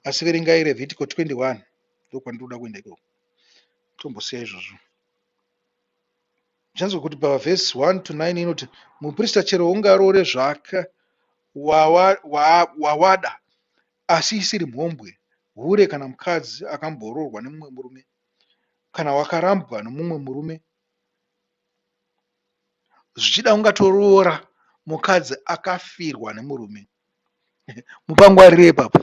asi verengai revhitiko 21 ndokwandinoda kuenda ikoko tombosiya izvozvo zvanzwa kuti pavhesi 1 to 9 inoti muprista chero ungaroore zvake wawada asi isiri mhombwe hure kana mukadzi akamboroorwa nemumwe murume kana wakarambwa nomumwe murume zvichida ungatoroora mukadzi akafirwa nemurume mupangwarire ipapo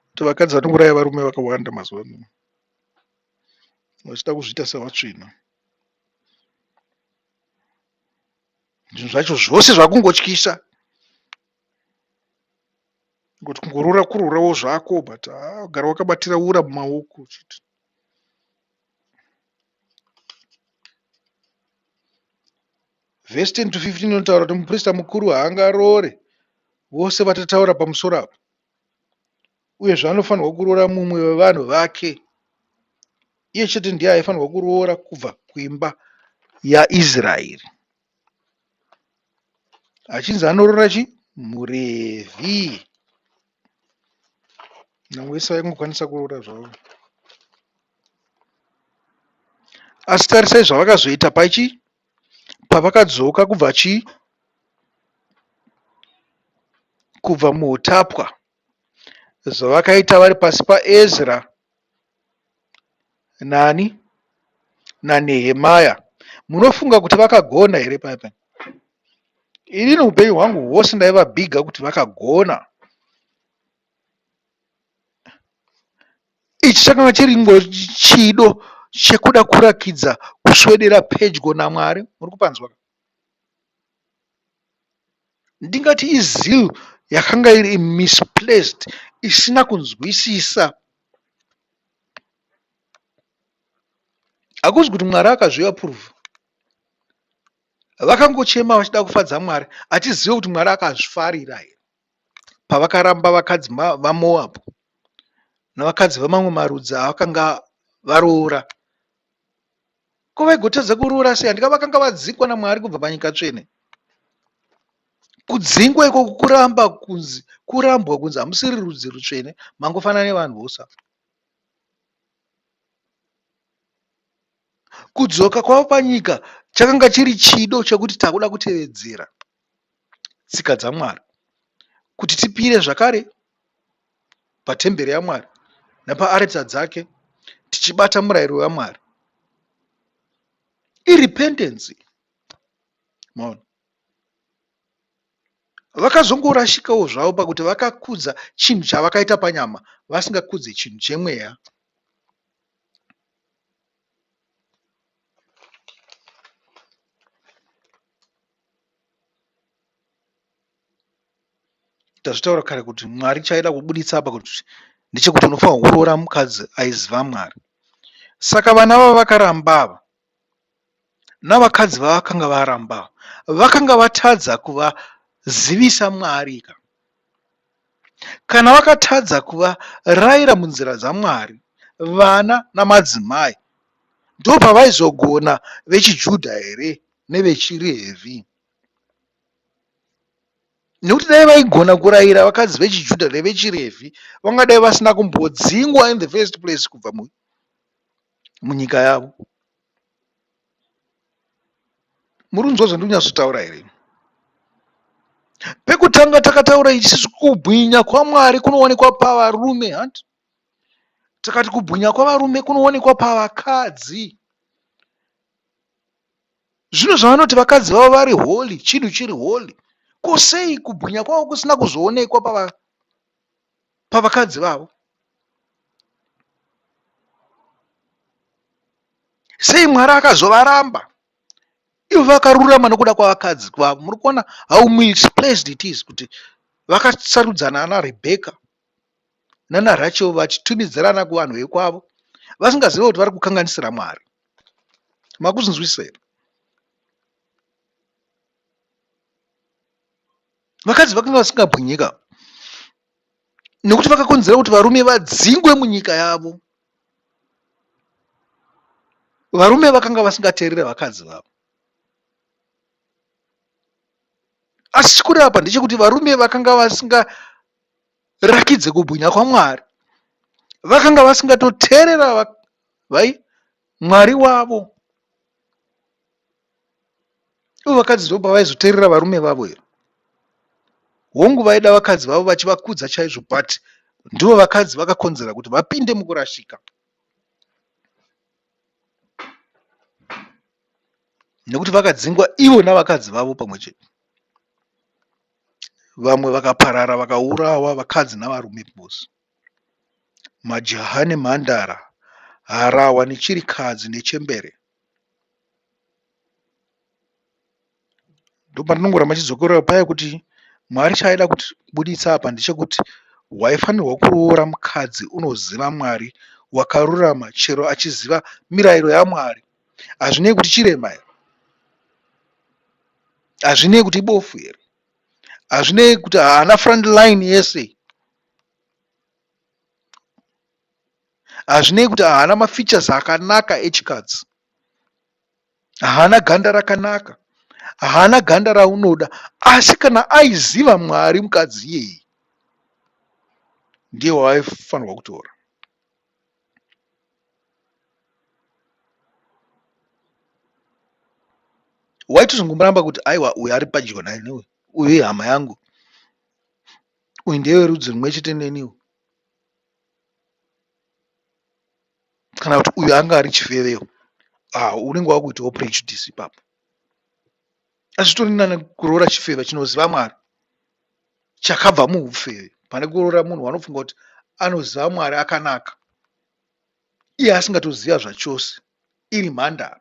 kuti vakadzi vanouraya varume vakawanda mazuva ano vachida kuzviita sevatsvina zvinhu zvacho zvose zvakungotyisa ngokuti kungorora kurorawo zvako but gara wakabatira ura mumaoko chiti Vhesi 10 to 15 inotaura kuti muprista mukuru haangaroore vose vatataura pamusoro apo, uyezve anofanirwa kuroora mumwe wevanhu vake. Iye chete ndiye aifanirwa kuroora kubva kuimba yaIsraeri, achinzi anoroora chi muRevhi. Nyange vese vaingokwanisa kuroora zvavo, asi tarisai zvavakazoita pachi pavakadzoka kubva chii kubva muutapwa zvavakaita vari pasi paezra nani nanehemaya munofunga kuti vakagona here paipa inini upenyu hwangu hwose ndaivabhiga kuti vakagona Ichi chakanga chiringochido chekuda kurakidza kuswedera pedyo naMwari. Muri kupanzwa ka? Ndingati izeal yakanga iri misplaced, isina kunzwisisa. Hakuzi kuti Mwari akazviapprova. Vakangochema vachida kufadza Mwari, hatizive kuti Mwari akazvifarira here. pavakaramba vakadzi vaMoabhu navakadzi vamamwe marudzi avakanga varoora. Ko vaigotadza kuroora sei? Handika vakanga vadzingwa naMwari kubva panyika tsvene. Kudzingwa iko kuramba kunzi kurambwa kunzi hamusiri rudzi rutsvene, mangofanana nevanhu vose. Kudzoka kwavo panyika chakanga chiri chido chekuti takuda kutevedzera. tsika dzaMwari, kuti tipire zvakare patemberi yaMwari nepaaritsa dzake tichibata murayiro waMwari. Irependency. Maona? Vakazongorashikawo zvavo pakuti vakakudza chinhu chavakaita panyama vasingakudze chinhu chemweya. tazvitaura kare kuti mwari chaida kubuditsa apa kuti ndechekuti unofanira kuroora mukadzi aiziva mwari saka vana vavo vakaramba ava navakadzi vavakanga varamba vakanga vatadza kuvazivisa mwari ka Kana vakatadza kuvaraira munzira dzaMwari, vana namadzimai ndopavaizogona vechiJudha here nevechiRevhi? Nekuti dai vaigona kuraira vakadzi vechiJudha nevechiRevhi, vangadai vasina kumbodzingwa in the first place kubva munyika yavo. muri kunzwa zvandiri kunyatsotaura here pekutanga takataura ichisi kubwinya kwamwari kunowanikwa pavarume hanti tikati kubwinya kwavarume kunowanikwa pavakadzi zvino zvavanoti vakadzi vavo vari holy chinhu chiri holy ko sei kubwinya kwavo kusina kuzoonekwa pava pavakadzi vavo sei mwari akazovaramba ivo vakarurama nokuda kwavakadzi kwavo muri kuona how misplaced it is kuti vakasarudzana ana rebheka nana rachel vachitumidzirana kuvanhu vekwavo vasingazive kuti vari kukanganisira mwari makuzinzwisira vakadzi vakanga vasingabwinyika nekuti vakakonzera kuti varume vadzingwe munyika yavo varume vakanga vasingateerere vakadzi vavo asi chikureva apa ndechekuti varume vakanga vasingarakidze kubwinya kwamwari vakanga vasingatoteerera vai mwari wavo ivo vakadzi ndo pavaizoteerera varume vavo here hongu vaida vakadzi vavo vachivakudza chaizvo but ndivo vakadzi vakakonzera kuti vapinde mukurashika nekuti vakadzingwa ivo navakadzi vavo pamwe chete vamwe vakaparara vakaurawa vakadzi navarume bos majaha nemhandara harawa nechirikadzi nechembere ndopatinongoramba tichizokorera paya kuti mwari chaaida kuti buditsa apa ndechekuti waifanirwa kuroora mukadzi unoziva mwari wakarurama chero achiziva mirayiro yamwari hazvinei kuti chirema here hazvinei kuti ibofu here hazvinei kuti haana front line yese Hazvinei kuti haana mafeatures akanaka echikadzi. Haana ganda rakanaka. Haana ganda raunoda. Asi kana aiziva Mwari mukadzi iyeyi ndiye waaifanirwa kutora. Waitozongomuramba kuti aiwa uyu ari padyo naye neuyu. Uyu ihama yangu. Uyu ndewe rudzi rumwe chete neniwo. kana kuti uyu anga ari chifevewo ah, unenge wakuitawo prejudice ipapo azvitori nani kuroora chifeve chinoziva mwari chakabva muufeve pane kuroora munhu wanofunga kuti anoziva mwari akanaka iye asingatoziva zvachose iri mhandara